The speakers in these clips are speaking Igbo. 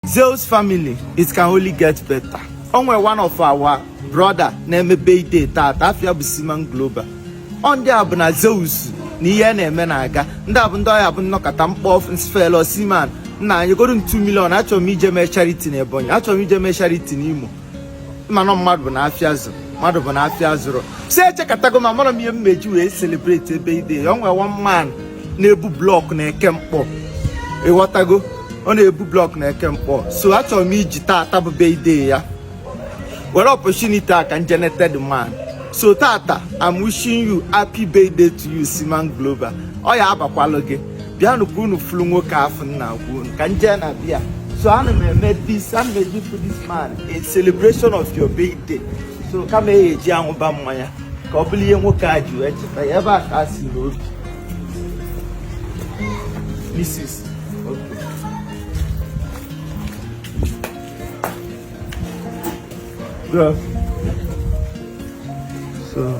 Zeus family it can only get better onwe one of our brother na-eme birthday taata afa ya bụ Siman Global ọ ndị a bụ na Zeus na ihe na-eme na-aga ndị a bụ ndị ọ ya-abụ nnọkata m kpọọ nsị hello Siman nna nyegodu m 2 million achọrọ m ije mee charity na Ebonyi achọrọ m ije mee charity na Imo mana mmadụ bụ na afịa zụrụ mmadụ bụ na afịa zụrụ so echekatago m amarọ m ihe m ya-eji wee celebrate birthday ya onwe one man na-ebu block na Eke Nkpor ịghọtago ọ na-ebu block na Eke Nkpor so achọrọ m iji taata bụ birthday ya were opportunity a ka nje nete the man so taata I'm wishing you happy birthday to you Siman Global ọ ya-abakwalụ gị bịanụ ka unu fụrụ nwoke afụ m na-ekwu ka nje na bịa so ana m eme this ana m eme ya for this man as celebration of your birthday so kama a ya-eji ya ṅụba mmanya ka ọ bụrụ ihe nwoke a ji wee cheta gị ebe a ka a sị na o bi Mrs. Okay. So.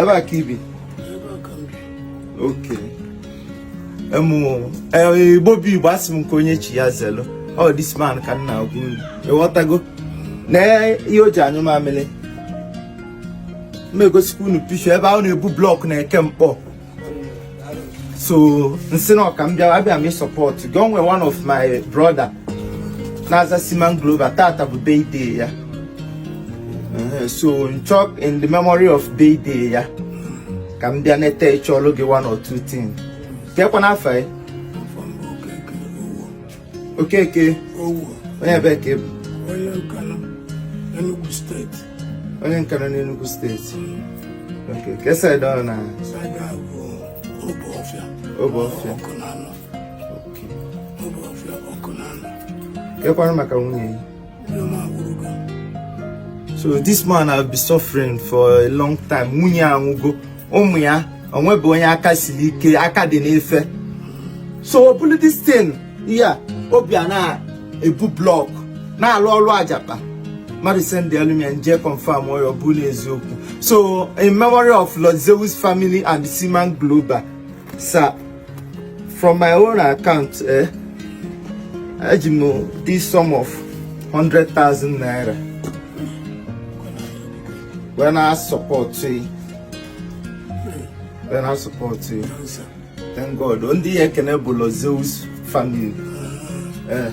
ebe a ka i bi okay Igbo bụ Igbo asị m nke onye chi ya zelu ọ oh, this man ka n na-agwa unu ịghọtago nee ihe o ji anyụ mamịrị m egosikwa unu picture ebe ọ na-ebu block na Eke Nkpor so nsị nna ka m bịa abịa m ịsọpọtụ gị onwe one of my brother na-aza Siman Global taata bụ birthday ya eh, so nchọọ in the memory of birthday ya ka m bịa nete ị chọọlụ gị one or two things kekwanụ afa ị Okeke Owo onye ebee ka ị bụ onye Nkanu Enugu State onye Nkanu n'Enugu State okay kee side ọ bụ na side a bụ Obuoffia Obuoffia Awkunanaw okay Obuoffia Awkunanaw kekwanụ maka nwunye gị so this man have been suffering for a long time nwunye ya anwụgo ụmụ ya onwebe onye aka siri ike aka dị n'ife so o buru this thing ya ọ bịa na-ebu block na-alụ ọrụ ajapa mmadụ sendalụ m ya nje confirm ọ bụ n'eziokwu so in memory of Lord Zeus family and Siman Global Sir, from my own account, eh, eji m this sum of 100,000 naira wee na-asọpọtụ ị. wee na-asọpọtụ ị. Thank God. Ndị ị ya-ekene bụ Lord Zeus family. Eh,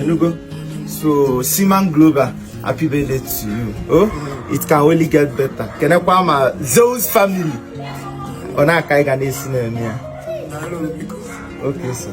ịnụgo so siman global happy birthday to you oh it can only get better kenekwa m zeus family ọ nụa ka anyị ga na-esi na-eme ya okay sir